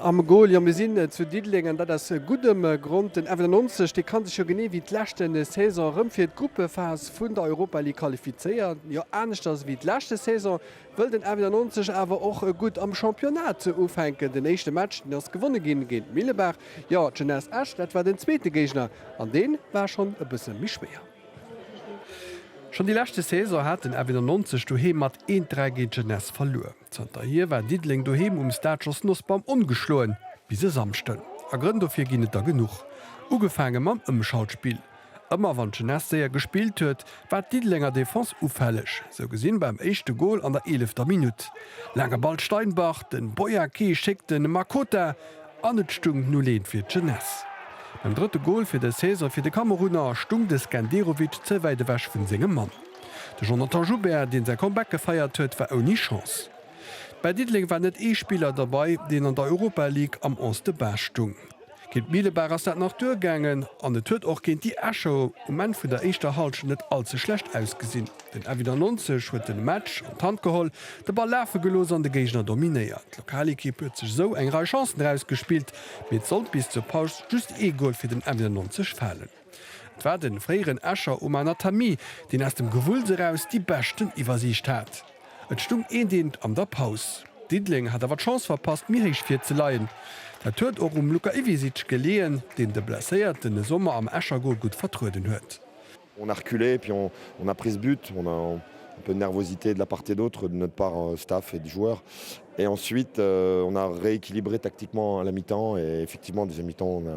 Am Goal, jo mir sinn zu Diddeleng an dat aus guddem Grond. Den FNL 90, dee kann sech jo genee wéi d'leschte Saison erëm fir d'Gruppephas vun der Europa League qualifizéieren. Jo aneschters wéi d'leschte Saison wëll den FNL 90 awer och gutt am Championnat ufänken. Den éischte Match deen ass gewonne ginn géint Millebaach. Jo d'Jeunesse Esch dat war den zweete Géigner an dee war schonn e bësse méi schwéier. Schonn déi leschte Saison hat den FNL 90 doheem mat eent 3 géint d'Jeunesse verluer. Zanterhier war Diddeleng doheem um Stade Jos Nosbaum ongeschloen, bis e Samschden. A Grënn dofir ginn et der genuch. Ugefaange mam Ëmschaltspill. Ëmmer wann d'Jeunesse séier gespillt huet, war d'Diddelenger Defense ufälleg. Sou gesinn beim éischte Gol an der eelefter Minutt. Laange Ball Steinbach, den Boyake schéckt den Makota an et stung 0, 1 fir d'Jeunesse. Beim drëtte Gol fir dës Saison fir de Kamerunner stung de Skenderovic ze wäit ewech vun sengem Mann. De Jonathan Joubert, deen säi Comeback gefeiert huet, war ouni Chance. Bei Diddeleng war net ee Spiller derbei, deen an der Europa League am Onze de Base stung. Géint Mielebaach ass dat nach duergaangen an et huet och géint déi Escher um Enn vun der éischter Hallschent net all ze schlecht ausgesinn. Den Avis 90 huet de Match an d'Hand geholl, de Ball lafe gelooss an de Géigner dominéiert. D'Lokalekipp huet sech esou eng Rei Chancen erausgespillt, mee et sollt bis zur Paus just ee Gol fir den Avis 90 falen. 't war den fréieren Escher Oma Nathalie, deen aus dem Gewulls eraus déi beschten Iwwersiicht hat. Et stung eent eent an der Paus. Diddeleng hat awer d'Chance verpasst méi héich virzeleien. Dat huet och um Luka Iwisic geleeën, deen de Blesséierten de Sommer am Escher Gol gutt vertrueden huet. On a reculé et puis on a pris ce but, on a un peu de nervosité de la part et d'autre de notre part staff et de joueurs et ensuite on a rééquilibré tactiquement à la mi-temps et effectivement en deuxième mi-temps on a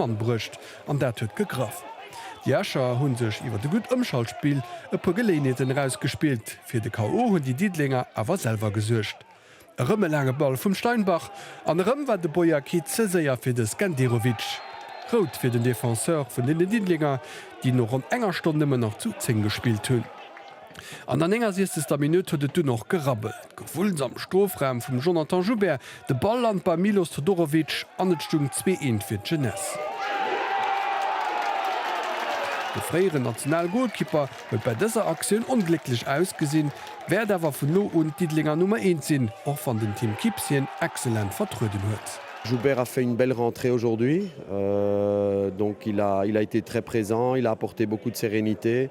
Mann bruecht an dat huet gegraff. Déi Escher hu sech iwwert e gutt Ëmschaltspill e puer Geléinheeten erausgespillt. Fir de KO hunn déi Diddelenger awer selwer gesuergt. Erëm e laange Ball vum Steinbach an erëm war de Boyaki ze séier fir de Skenderovic. Rout fir den Defenseur vun den Diddelenger, déi no ronn enger Stonn nëmmen nach zu 10 gespillt hunn. An der 69. Minutt huet et dunn och gerabbelt. Gewulls am Strofraum vum Jonathan Joubert, de Ball lant beim Milos Todorovic an et stung 2-1 fir d'Jeunesse. De fréieren National-Golkipper huet bei dëser Aktioun onglécklech ausgesinn, wäert awer vun no un d'Diddelenger Nummer Eent sinn, och wann den Tim Kipps hien excellent vertrueden huet. Joubert a fait une belle rentrée aujourd'hui donc il a il a été très présent, il a apporté beaucoup de sérénité.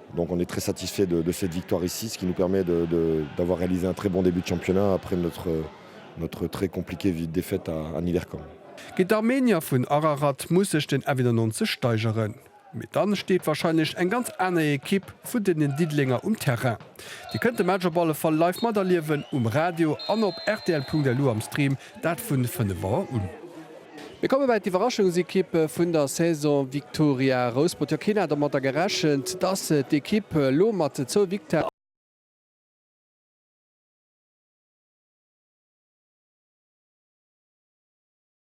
Donc on est très satisfait de de cette victoire ici, ce qui nous permet de de d'avoir réalisé un très bon début de championnat après notre notre très compliquée vi défaite à à Niederkorn. Ginn d'Armenier vun Ararat muss sech den F 91 steigeren, mee dann steet wahrscheinlech eng ganz aner Equipe vun den Diddelenger um Terrain. Dir kënnt de Match op alle Fall live materliewen um Radio an op rtl.lu am Stream. Dat vun 5 Auer un. Mir komme bei d'Iwwerraschungsekipp vun der Saison, Viktoria Rouspert. Jo, keen hat domatter gerechent, dass d'Ekipp elo mat zwou Victoiren.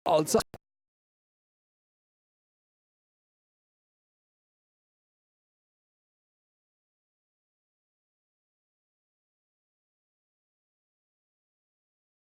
Als Erscht.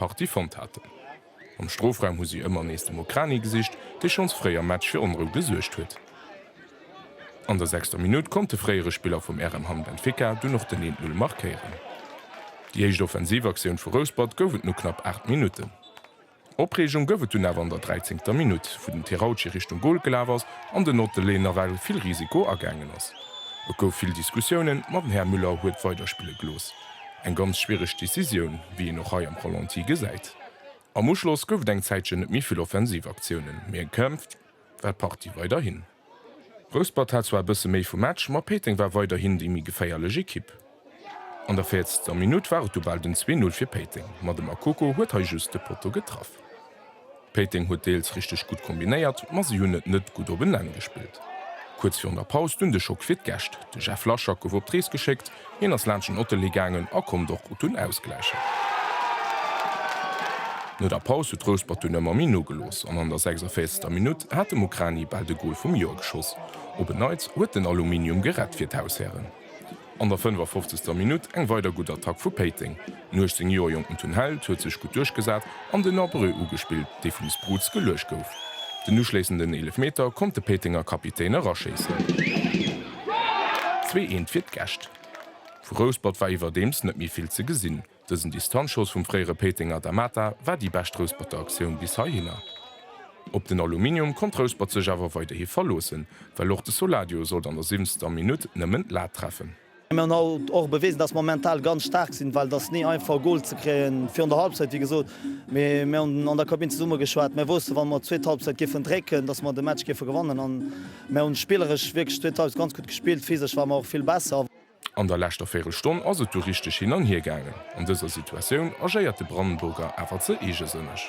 Partie fonnt haten. Am Strofraum hu si ëmmer nees dem Okrani gesicht, dee schonns fréi am Match fir Onrou gesuergt huet. An der sechster Minutt konnt de fréiere Spiller vum RM Hamm Benfica dunn och den 1-Null markéieren. Déi éischt offensiv Aktioun vu Rouspert gouf et no knapp 8 Minutten. Opreegung gouf et dunn awer an der dräizéngter Minutt, wou den Terauchi Richtung Gol gelaf ass an den Ottele nawell vill Risiko agaangen ass. Et gouf vill Diskussiounen, ma den Här Müller huet weiderspille gelooss. Eng ganz schwiereg Decisioun, wéi een och hei am Ralenti gesäit. Am Uschloss gouf et eng Zäitchen net méi vill offensiv Aktiounen, mee eng kämpft war d'Partie weiderhin. Rouspert hat zwar e bësse méi vum Match, ma Péiteng war weiderhin déi méi geféierlech Ekipp. An der véierzegster Minutt war et du bal den 2, 0 fir Péiteng, ma de Makoko huet hei just de Potto getraff. Péiteng huet deels richteg gutt kombinéiert, ma si hunn et net gutt op en Enn gespillt. Kuerz virun der Paus dunn de Schock fir d'Gäscht, de Jeff Laschak gouf op d'Rees geschéckt, hien ass laanscht den Ottelee gaangen a konnt och gutt dunn ausgläichen. No der Paus huet Rouspert dunn ëmmer méi nogelooss an an der 46. Minutt hat de Mukrani bal de Gol vum Joer geschoss. Op en Neits huet den Aluminium gerett fir d'Haushären. An der 55. Minutt eng weider gutt Attack vu Péiteng. Den 18 Joer jonken Tun Held huet sech gutt duerchgesat an den Abreu ugespillt, dee vum Sproots geluecht gouf. Den uschléissenden Eelefmeter konnt de Péitenger Kapitän eraschéissen. 'n Zwee eent fir d'Gäscht vu Rouspert war iwwerdeems net méi vill ze gesinn. Dësen Distanzschoss vum fréiere Péitenger Da Mata war déi bescht Rousperter Aktioun bis heihinner. Op den Aluminium konnt Rouspert sech awer weiderhi verloossen, well och de Soladio sollt an der siwenzter Minutt nëmmen d'Lat treffen. Mir hunn haut och bewisen, datt mer mental ganz staark sinn, well et ass ni einfach e Gol ze kréien virun der Halbzeit, wéi gesot. Mee mir hunn an der Kabinn zesumme geschwat, mir wousse wa mer d'zweet Halbzeit géifen drécken, datt mer de Match géife gewannen. A mir hu spilleresch wierklech d'zweet Halbzeit ganz gutt gespillt, physesch ware mer och vill besser. An der leschter Véirelstonn ass et du richteg hin an hier gaangen. An dëser Situatioun agéiert de Brandenburger awer ze eegesënneg.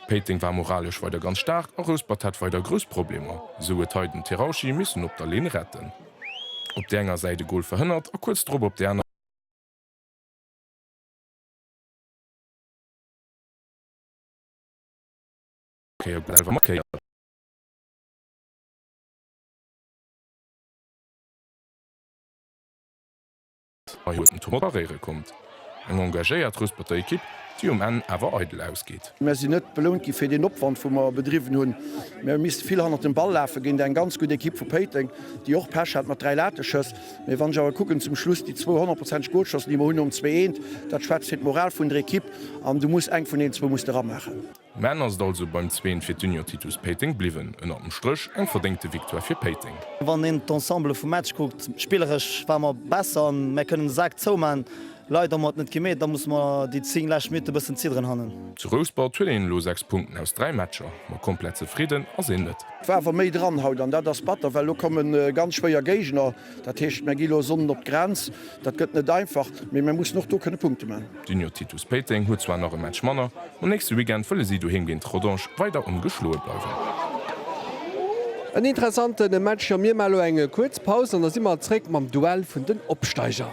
Péiteng war moralesch weider ganz staark a Rouspert hat weider grouss Problemer, esou huet hei den Terauchi missen op der Linn retten. Op där enger Säit e Gol verhënnert a kuerz drop op där. Kéier gutt selwer markéiert. Hei huet den Tour paréiere konnt. Eng engagéiert Ruesperter Ekipp, déi um Enn awer eidel ausgeet. Mer sinn net belount gi fir deen Opwand, wou mer bedriwwen hunn. Mir hu misste vill hannert dem Ball lafe géint eng ganz gutt Ekipp vu Péiteng, déi och Pech hat mat dräi Lateschëss. Mee wann ech awer kucken zum Schluss déi zwou honnertprozenteg Golschance, déi mer hunn nom 2, 1, dat schwätzt fir d'Moral vun der Ekipp. An du muss eng vun deenen zwou muss de ramaachen. Mä en ass et also beim Zween fir d'Union Titus Péiteng bliwwen. Ënnert dem Stréch eng verdéngte Victoire fir Péiteng. Wann een d'Ensemble vum Match kuckt, spilleresch ware mer besser, mä kënnen de Sak zoumaachen, leider hu mer et net gemeet, da musse mer déi 10 lescht Minutte bëssen zidderen hannen. Zu Rouspert huet een elo 6 Punkten aus 3 Matcher, ma komplett zefridden ass een net. War awer méi dran haut an dat ass batter, well elo kommen ganz schwéier Géigner. Dat heescht, mär gi lo Sonnden op d'Grenz. Dat gëtt net einfach, mee mär mussen och do kënne Punkte maachen. D'Union Titus Péiteng huet zwar nach e Match manner, ma nächste Weekend wëlle si doheem géint Rodange weider ongeschloe bleiwen. En interessante Match a mir maache lo eng kuerz Paus an da si mer zréck mam Duell vun den Opsteiger.